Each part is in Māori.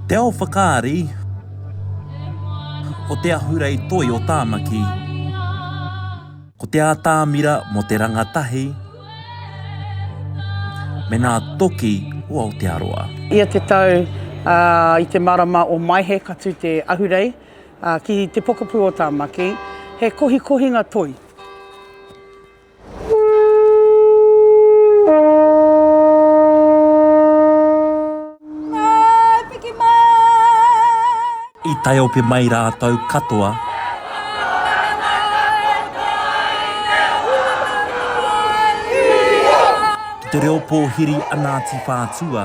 Te ao whakaari Ko te ahurei toi o Tāmaki Ko te ātamira mō te rangatahi me ngā toki o Aotearoa. Ia te tau, ā, i te marama o Maehe ka tū te ahurei, ā, ki te pokapū o Tāmaki, he kohikohinga toi. I tae ope mai rātou katoa. Ki te reo pōhiri a Ngāti Whātua,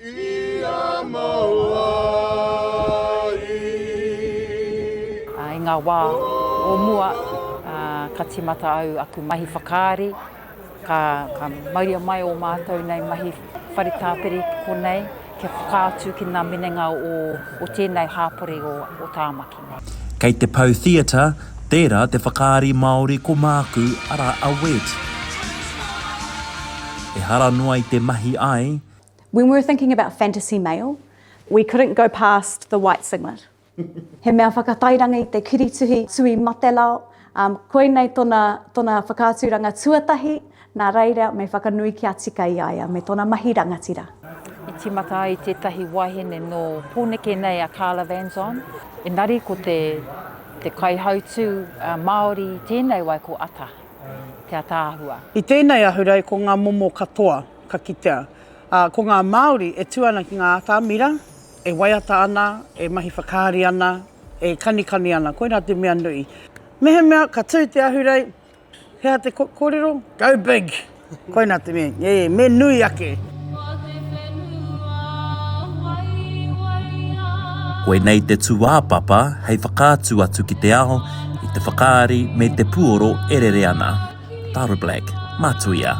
ia maua i. I ngā wā o mua, ka tīmata au aku mahi whakaari, ka mauria mai ō mātou nei mahi whare tāpiri ki konei kia whakaatu ki ngā minenga o tēnei hāpori o Tāmaki nei. Kei te Pou Theatre, tērā te whakaari Māori ko māku, arā a Wed. Ehara noa i te mahi ai, When we were thinking about fantasy male, we couldn't go past the white singlet. He mea whakatairanga i te kirituhi Tui Matelao, um, koinei tona, tona whakaaturanga tuatahi, nā reira me whakanui kia tika i a ia me tona mahi rangatira. I tīmata ai tētahi wahine nō Pōneke nei a Carla Vanzon. Engari ko te, te kaihautū uh, Māori tēnei wai ko Ata, te ataahua. I tēnei ahurei ko ngā momo katoa. ka kitea, ā, ko ngā Māori e tū ana ki ngā atamira, e waiata ana, e mahi whakaari ana, e kanikani ana, koirā te mea nui. Mehemea ka tū te ahurei, he aha te kōrero? Go big! Koinā te mea, e, me nui ake! Koinei te tūāpapa hei whakaatu atu ki te ao i te whakaari me te puoro e rere ana. Tara Black, Matuia.